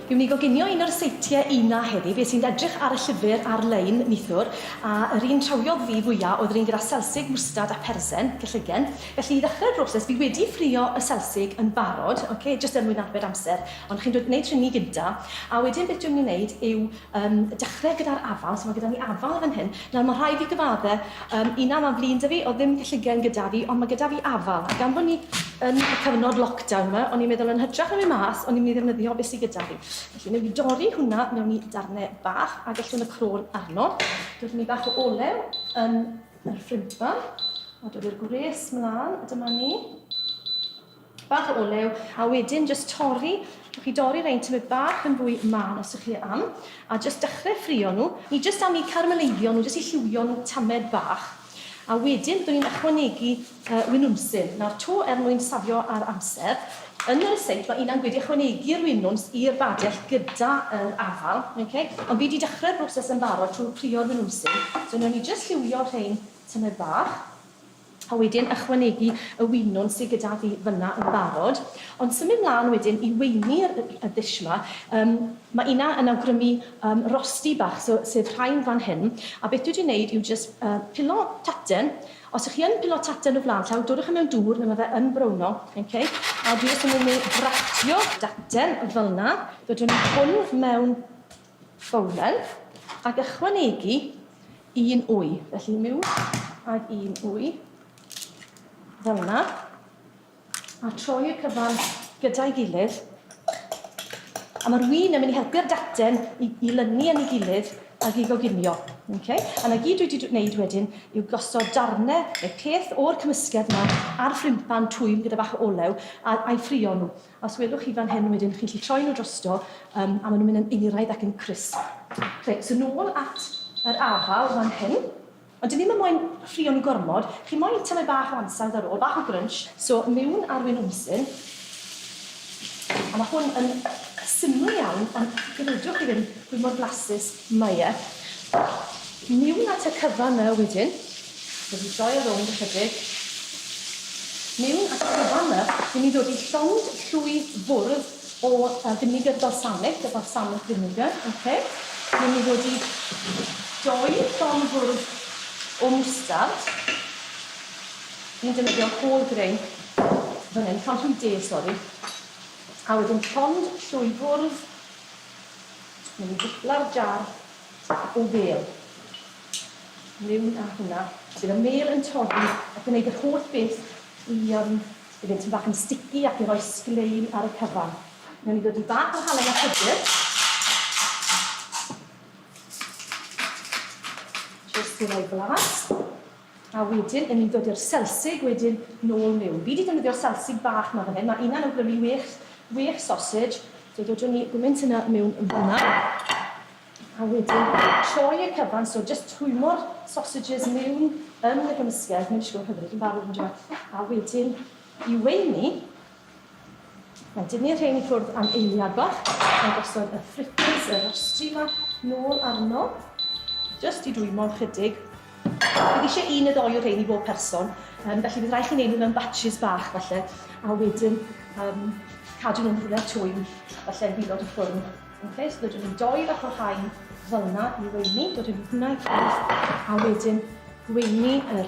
Yw ni goginio un o'r seitie una heddi, be sy'n edrych ar y llyfr ar-lein nithwr, a yr un trawiodd fi fwya oedd yr un gyda selsig, mwstad a persen, cyllygen. Felly i ddechrau'r broses, fi wedi ffrio y selsig yn barod, ok, jyst er mwyn arbed amser, ond chi'n dweud wneud rheini gynta, a wedyn beth dwi'n mynd i wneud yw Yn dechrau gyda'r afal, so mae gyda ni afal fan hyn. Nawr, mae rhaid fi gyfadde, um, un am flin da fi, oedd ddim cylligen gyda fi, ond mae gyda fi afal. Gan bod ni yn y cyfnod lockdown yma, o'n i'n meddwl yn hytrach na mynd mas, o'n i'n mynd i ddefnyddio beth sydd gyda fi. Felly, newn ni dorri hwnna mewn i darnau bach a gellwn y crôn arno. Dod ni bach o olew yn yr ffrimpan, a dod i'r gwres mlaen, a dyma ni. Bach o olew, a wedyn jyst torri, rhowch chi dorri rhein tymed bach yn fwy mân os ych chi am, a jyst dechrau ffrio nhw. Ni jyst am i carameleiddio nhw, jyst i lliwio nhw tamed bach. A wedyn byddwn ni'n ychwanegu yy winwnsyn. Nawr to er mwyn safio ar amser, yn y ryseit mae Ina'n gwedi ychwanegu'r winwns i'r badell gyda yr afal, oce? Ond fi di dechrau'r broses yn barod trwy frio'r winwnsyn, so newn ni jyst lliwio rhein tymed bach. a wedyn ychwanegu y winwn sy gyda fi fyna yn barod, ond symud mlan wedyn i weini yr y ddish 'ma, yym ma' una yn awgrymu yym rosti bach so sef rhain fan hyn, a beth dwi 'di neud yw jyst yy pilo taten, os y'ch chi yn pilo taten o flan llaw dodwch e mewn dŵr le ma' fe yn browno, ok, a dwi jyst yn mynd i gratio taten felna, dodwn i hwn mewn Fowledd, ac ychwanegu un wy. Felly miwn ag un wy, fel yna, a troi y cyfan gyda'i gilydd. A mae'r wy yn mynd i helpu'r daten i, i lynu yn ei gilydd ac i goginio. Okay? A na gyd dwi wedi gwneud wedyn yw gosod darnau neu peth o'r cymysgedd yma ar ffrimpan twym gyda bach o olew a, a'i ffrio nhw. Os gwelwch chi fan hyn wedyn, chi'n gallu troi nhw drosto um, a maen nhw'n mynd yn eiraidd ac yn crisp. Reit, so nôl at yr afal fan hyn. Ond dyn ni'n mynd moyn ffrio nhw gormod. Chi moyn tynau bach o ansawdd ar ôl, bach o grunch. So mewn arwyn wmsyn. A mae hwn yn syml iawn, ond gredwch chi ddim, hwy mor blasus. Myeth. Miwn at y cyfan nawr wedyn. Rwy'n troi rownd ychydig. Miwn at y cyfan nawr. Ry'n ni'n dod i llond llwy fwrdd o finiger balsamic, y balsamic vinegar. Ok. Ry'n ni'n dod i doi llond fwrdd o mwstard. Ni'n defnyddio whole grain fan hyn, llond llwy de, sori. A wedyn llond llwy fwrdd Mae'n gwpla'r jar o fêl. Miwn â hwnna. Bydd y mêl yn torri a gwneud yr holl beth i yym i fynd tym bach yn sticky ac i roi sglein ar y cyfan. Newn ni ddod i bach o halen a pwdr. Jyst i roi blas. A wedyn yn ni'n dod i'r selsig wedyn nôl miwn. Fi 'di defnyddio selsig bach 'ma fan hyn, ma' una'n awgrymu wêch, wêch sosej. So dodwn ni gwyment hynna miwn yn fanna. A wedyn troi y cyfan, so jyst twymor sosejes miwn yn y gymysgedd, mae'n disgwyl hyfryd yn barod yndyw e? A wedyn i weini, Mae'n dynnu'r rhein i ffwrdd am eiliad bach, mae'n gosod y fritters, y rostri 'ma, nôl arno, jyst i dwymo ychydig. Bydd eisiau un neu ddoi o rhein i bob person, um, felly bydd rhaid chi wneud nhw mewn batches bach falle, a wedyn um, cadw nhw'n rhywle twym, falle yn gwylod y ffwrn. Okay, so dydyn nhw'n doi fath o rhain fel yna i weini, dod yn hwnna i ffwrdd, a wedyn gweini yr